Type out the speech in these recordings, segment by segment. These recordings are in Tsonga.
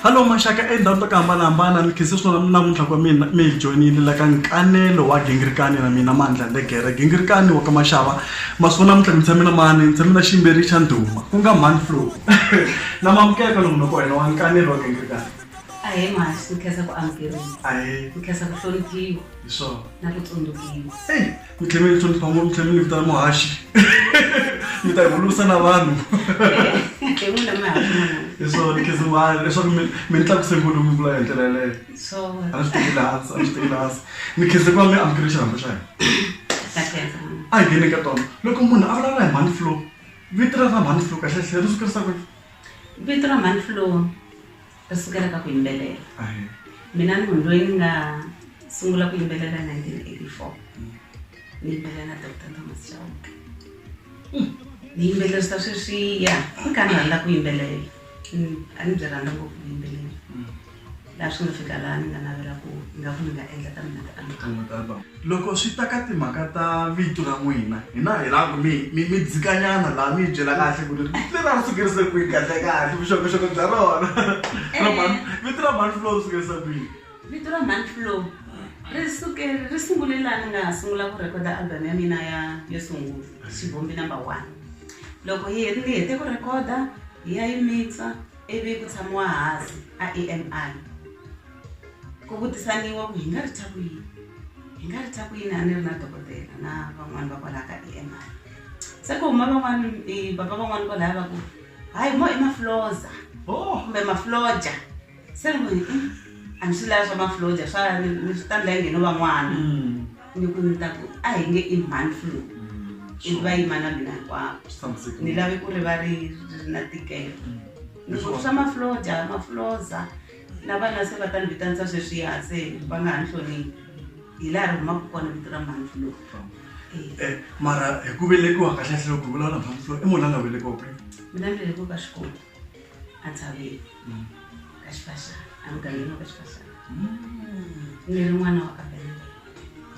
hallo maxaka endhawini to ku hambanahambana ni khense swinona namuntlha kwa mina mi hi joyinile la ka nkanelo wa gingirikani na mina mandla legere gingirikani wa ka maxava masiku namuntlha ni tshame na mani ni tshame na ximberi xa ndhuma ku nga mani flo na mamukeka lomu loko wena wa nkanelo wa gingirikani ahe masi ni khensa ku amukeriwa ahe ni khensa ku hloniphiwa hi swona na ku tsundzukiwa ku tlhe mi hlonipha ngopfu mi tlhe mi ni vitana muhaxi mi ta hulusa na vanhu hi swona khizimani leswaku mi mi ni tlakuse ngulu mi vula hi ndlela yeleyo a ni swi tekeli hansi a ni swi tekeli hansi ni khenze ku va mi amukele xirhambo xa hina a hi ngheni ka tona loko munhu a vulavula hi mhani flow vito ra ra mhani flow kahlehlehe ri swi kurisa ku vito ra mhani flow ta sukela ka ku yimbelela mina ni munhu loyi ni nga sungula ku yimbelela 1984 ni yimbelela na doctor thomas chauke hmm. ni yimbelela swi ta sweswiya ni ka ni rhandza ku yimbelela hmm, a ni byi rhandza ngopfu ku yimbelela laha swi nga fika laha ni nga navela ku nga ku ni nga endla ta mina ti-album Loko swi ta ka timhaka ta vito ra n'wina hina hi lava ku mi mi mi dzikanyana laha mi hi byela kahle ku ri vito leri a ri sukerise kwihi kahlekahle vuxokoxoko bya rona ra mhani vito ra mhani Flo ri sukerise kwihi vito ra mhani Flo ri suke ri sungule laha ni nga sungula ku rhekhoda album ya mina ya yo sungula xivumbi number one loko yi ni hete ku rhekhoda hi ya yi mixa ivi ku tshamiwa hansi a E_M_I. ku vutisaniwa ku hi nga ri thya ku yini hi nga ri thya ku yini a ni ri na dokodela na van'wani va kwalaha ka e m i se ku huma van'wani e baba van'wani kwalaya va ku hayi mo i mafloza oh. kumbe mafloja se ni ku hi hmm, a ni swi lava swa mafloja swa ni swi tandla yi ngheno van'wana hmm. ni ku ni ta ku a hi nge i man flu hmm. ivi va yima na mina hinkwavo ni lave ku ri va ri ri na tikelo ni ku swa mafloja mafloza Na vana se va ta ni vitanisa sweswiya se va nga ha ni hloniphi hi laha ri humaka kona vito ra mhantlu lowu Eh, mara hi ku velekiwa kahle hle loko hi vulavula mhantlo i munhu la nga velekiwa kwihi mina ni velekiwe ka xikwembu a tshaveni ka xifaxana emugangeni wa ka xifaxana ni ri n'wana wa ka benngwe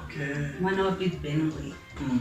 okay n'wana wa pete benngwe Mm.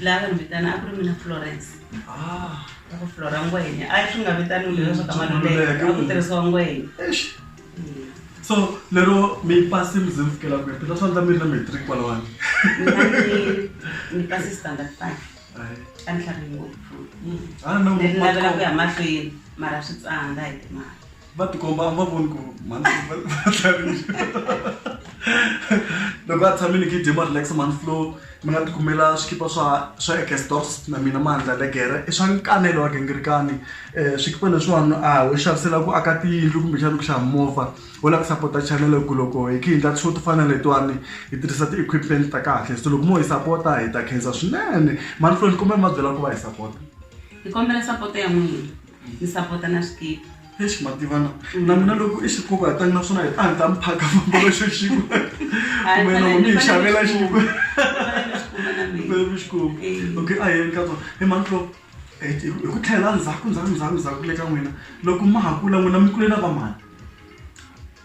laha va ni vitana a ku ri mina florence ah. a ku flora ngwenya a swi nga vitaniwi leswa swa ka maluleke a ku tirhisiwa ngwenya so lero mi pasi mi ze mi fikela kwihi phela swa ndla mi ri na matric kwalawani ni pasi standard five a ni hlavi ngopfu a ni navela ku ya mahlweni mara swi tsandza hi timali va tikomba a mi va voni ku manflo va tlharisa loko a tshame ni kidima relax manflo mi nga tikumela swikipa swa swa ekestos na mina mandla legere i swa nkanelo wa gingirikani um swikipa leswiwani a ho xavisela ku aka tiyindlu kumbexani ku xava movha wo lava ku sapota chanele ku loko hi khe hi ndla swo to fana letiwani hi tirhisa ti-equipment ta kahle so loko mo hi sapota hi ta khensa swinene manflo ni kombela mi va byela ku va hi sapota hi kombela sapota ya n'wina ni sapota na swikili eish mativana mm. na mina loko i xi pfuka hi tani naswona hi ta ni ta mi phaka fambela xo xiku kumbe loko mi hi xavela xiku mi xiku okay a yeni ka tsona hi mantlo hi ku tlhela ndzhaku ndzhaku ndzhaku ndzhaku le ka n'wina loko ma ha kula n'wina mi kule na vamani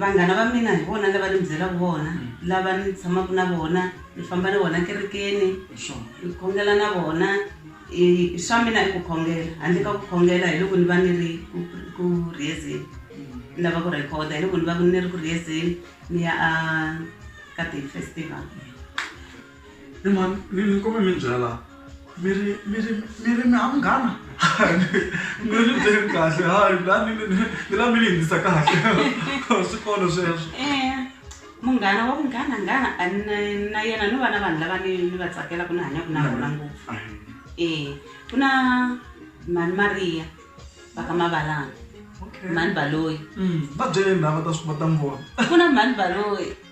vanghana va mina hi vona lava ni mi byelaka vona lava ni tshamaka na vona ni famba na vona kerekeni ni khongela na vona i- swa mina i ku khongela handle ka ku khongela hi loko ni va ni ri ku- ku- ku rihezeni ni lava ku rhekhoda hi loko ni va ni ri ku rihezeni ni ya a ka day festival He mhani ni ni kombela mi ni byela mi ri mi ri mi ri mi ha munghana ni ni byeli kahle hayi la ni ni ni ni la mi ni yingisa kahle swi kona sweswo Eh, munghana wa munghana nghana a ni na- na yena no va na vanhu lava ni ni va tsakelaka ni hanyaka na vona ngopfu Ahe. Eh, ku na mhani mariya va ka mavalana okay mhani baloyi Mm, va byele lava ta swi va ta n'wi vona ku na mhani baloyi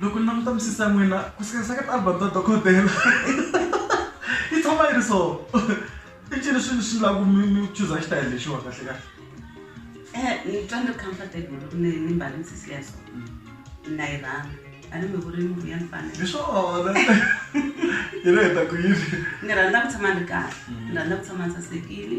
loko ni languta misisi ya n'wina ku sikanisa ka tialbum ta dokodela yi tshama yi ri so i ncini swilo swi laku mi mi chuza xitayele lexiwa kahle kahle eh, ni twa ni ri comfortable loko ni ni mbale misisi ya so na yi rhanga a ni mi vuri ni vuya ni fanele hi swona hi ri heta ku yini ni rhandza ku tshama ni ri kahle ni rhandza ku tshama ni sasekile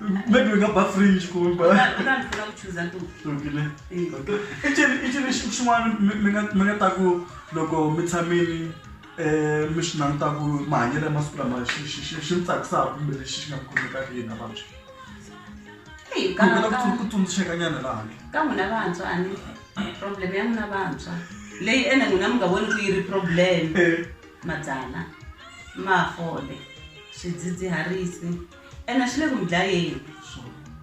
maybe we nga ba fringe kumbe icini xin'wana mi nga ta ku loko mi tshamini um mi swi languta ku mahanyelo ya masiku lama xi mi tsakisaka kumbe lexi xi nga kumeka yini vantshwa ku tsundzuxeka nyana laha ka n'wina vantshwa a ni problem ya n'wina vantshwa leyi ene n'wina mi nga voni ku yi ri problem madzana mafole swidzidziharisi ene swi le ku mi dlayeni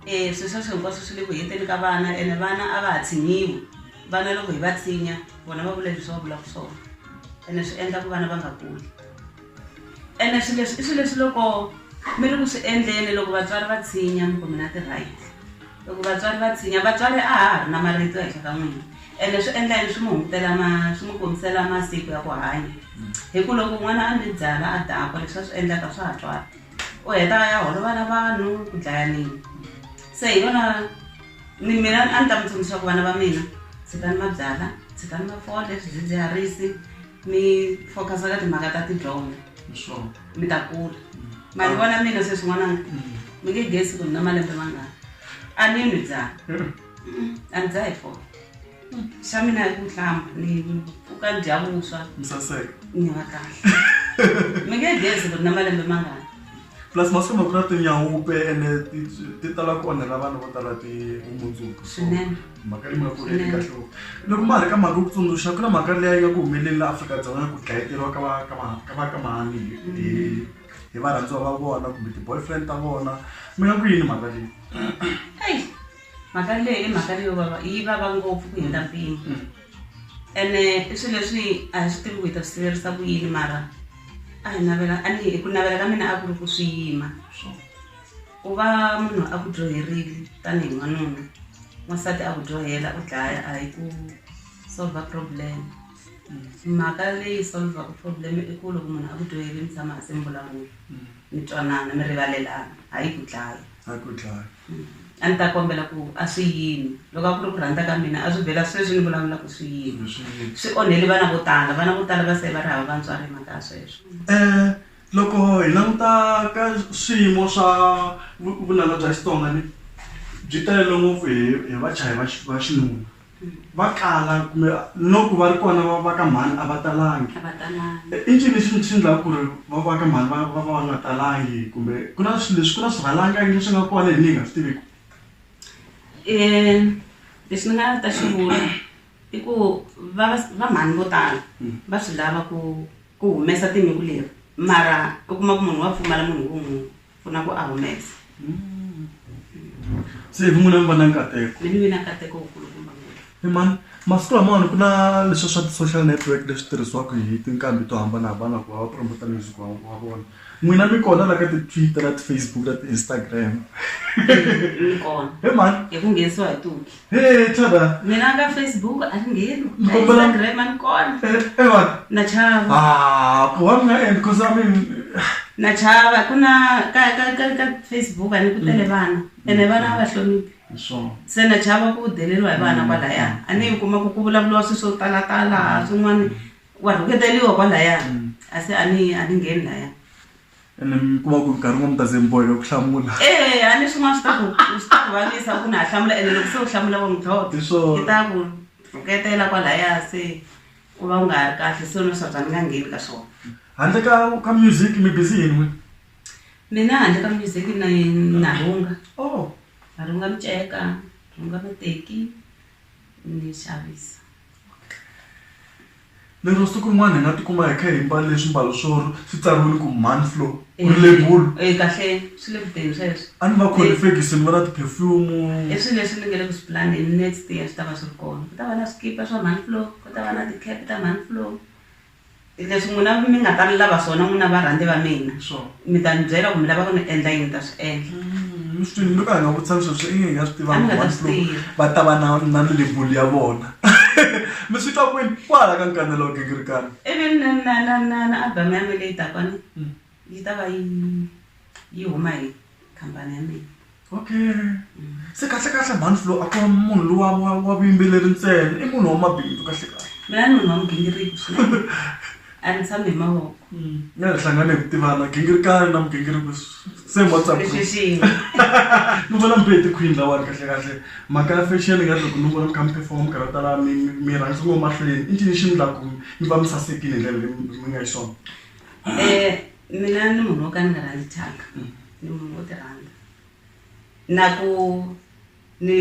e swi sweswo hinkwaswo swi le ku heteni ka vana ene vana a va ha tshinyiwi vana loko hi va tsinya vona va vula leswi va vulaka swona ene swi endla ku vana va nga kuli ene swi leswi i swi leswi loko mi ri ku swi endleni loko vatswari va tshinya mi ku mina ti-right loko vatswari va tshinya vatswari a ha ha ri na marito ehenhla ka n'wina ene swi endla yini swi mi hungutela ma swi mi kombisela masiku ya ku hanya hi ku loko n'wana a mi byala a dakwa leswi a swi endlaka swa ha twala u heta a ya holova na vanhu ku dlaya nini se hi yona ni mina a ni ta mi tsundzuxa ku vana va mina tshikani mabyala tshikani mafole swidzidziharisi mi focus-a ka timhaka ta tidyondzo mi ta kula ma ni vona mina sweswi n'wananga mi nge gesi ku ni na malembe mangani a ni nwi byala a ni dzaha hi fole xa mina hi ku tlamba ni u ka dya vuswa misaseka ni va kahle mi nge gezi ku ri na malembe mangani plus masiku lama ku na tinyawupe ene ti- ti tala ku onhela vana vo tala ti vumundzuku So, Swinene. mhaka leyi nga ku ri Swinene. kahle ngopfu. loko ma ha ri ka mhaka yo ku tsundzuxa ku na mhaka leyi yi nga ku humeleli la afrika-dzonga ya ku dlayeteriwa ka va- ka va- ka vakamani hi- hi hi varhandziwa va vona kumbe ti-boyfriend ta vona mi nga ku yini mhaka leyi eyi mhaka leyi i mhaka leyo vava yi vava ngopfu ku hundza mpimo mm. ene i swilo leswi a hi swi tivi ku hi ta swi siverisa ku yini mara a hi navela a ni ku navela ka mina a ku ri ku swi yima ku va munhu a ku dyoherile tanihi n'wanuna n'wansati a ku dyohela u dlaya a hi ku solve problem mhaka leyi solvaka problem i ku loko munhu a ku dyoheli mi tshama hasi mi vulavula mi twanana mi rivalelana hayi ku dlaya a ni ta kombela ku a swi yini loko a ku ri ku rhandza ka mina a swi vhela sweswi ni vulavula ku swi yini swi onheli vana vo tala vana vo tala va se va ri hava vantswari hi mhaka ya sweswo um loko hi languta ka swiyimo swa vunanga bya xitsonga ni byi talele ngopfu hi hi vachayi va va xinuna va kala kumbe no ku va ri kona va va ka mhani a va talangi i ncini xi xi ndlaku ku ri va va ka mhani va va va nga talangi kumbe ku na swilo leswi ku na swirhalanganyi leswi nga kona hina hi nga swi tiviku lexi ni nga ta xi vula i ku va va mhani vo tala va swi lava ku ku humesa tinyungu leri mara u kuma ku munhu wa pfumala munhu wo n'wi. pfuna ku a humesa se hi vun'wina mi va na nkateko ni mi vina nkateko wu kulukumba ngopfu Hey man, masiku lamawani ku na leswi swa ti-social network leswi tirhisiwaka hi tinqambi to hambanahambana ku va va promota music wa wa vona n'wina mi kona la ka ti-twitter na ti-facebook na ti-instagram ni kona he man hi ku nghenisiwa hi tuki Hey, Thada. Mina ka Facebook a ni ngheni. Ka Instagram a ni kona. Eh, what? Na chava. Ah, wa mina and cause I mean na chava ku na ka ka ka ka Facebook a ni ku tele mm. vana. Ene vana va hloniphi. Sure. Se na chava ku deleriwa hi vana mm. kwalaya. A ni kuma ku ku vulavuriwa swi swo tala tala swin'wana wa rhuketeliwa kwalaya. Mm. A se a ni a ni ngheni laya. ene mi kuma ku nkarhi n'wa mi ta ze mi boheka ku hlamula ee a ni swin'wana swi ta ku swi ta ku vavisa ku na ha hlamula ene loko se u hlamula wa mudlodlo Hi swona. i ta ku rhuketela kwalaya se u va u nga ha ri kahle se no swa bya ni nga ngheni ka swona handle ka ka music mi busy yini n'wini mina handle ka music na na rhunga oh na rhunga miceka rhunga mateki ni xavisa Lero siku rin'wana hi nga tikuma hi kha hi mbale swimbalo swo swi tsariwini ku Manflo ku ri lebulu e kahle swi le kuteni sweswo a ni va kholi fekisi ni va na ti-perfume i swilo leswi ni nge le ku swi pulaneni next year swi ta va swi ri kona ku ta va na swikipa swa Manflo ku ta va na ti-cap ta Manflo leswi n'wina mi nga ta ni lava swona n'wina varhandzi va mina sure. mi ta ni byela ku mi lava ku ni endla yini ni ta swi endla mi swi twini mi ka hi nga vutisa leswi swi inge hi nga swi A ni nga ta swi tivanga tiva. va ta va na na ni lebulu ya vona mi swi twa kwini kwala ka nkanelo wa gingirikani ivi na na na na na album ya mina leyi dakwani yi ta va yi yi huma hi khampani ya mina okay se kahlekahle mhani flo a ku munhu lowa wa wa vuyimbeleri ntsena i munhu wa mabindzu kahlekahle mina ni munhu wa mugingiriko swinene a ni tshami hi mavoko nga hi hlangane hi ku tivana gingirikani na mugingiriko same whatsapp group leswi xin'we ni vona mbe hi tikhwini lawani kahlekahle mhaka ya fashion nga ri loko ni vona mi kha mi performa mi karhi mi tala mi mi- mi rhangisa ngo mahlweni i ncini xi mi la ku mi va mi sasekile hi ndlela leyi mi nga yi swona um mina ni munhu wo ka ni nga rhandzi thyaka Ni munhu wo ti rhandza na ku ni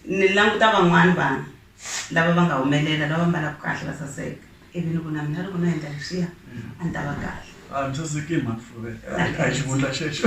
ni languta van'wani vanhu lava va nga humelela lava mbalaku kahle va saseka ivi ni ku na mina loko no endla leswiya a ni ta va kahle a ni saseki hi mhani fluvel a hi xivundla xexo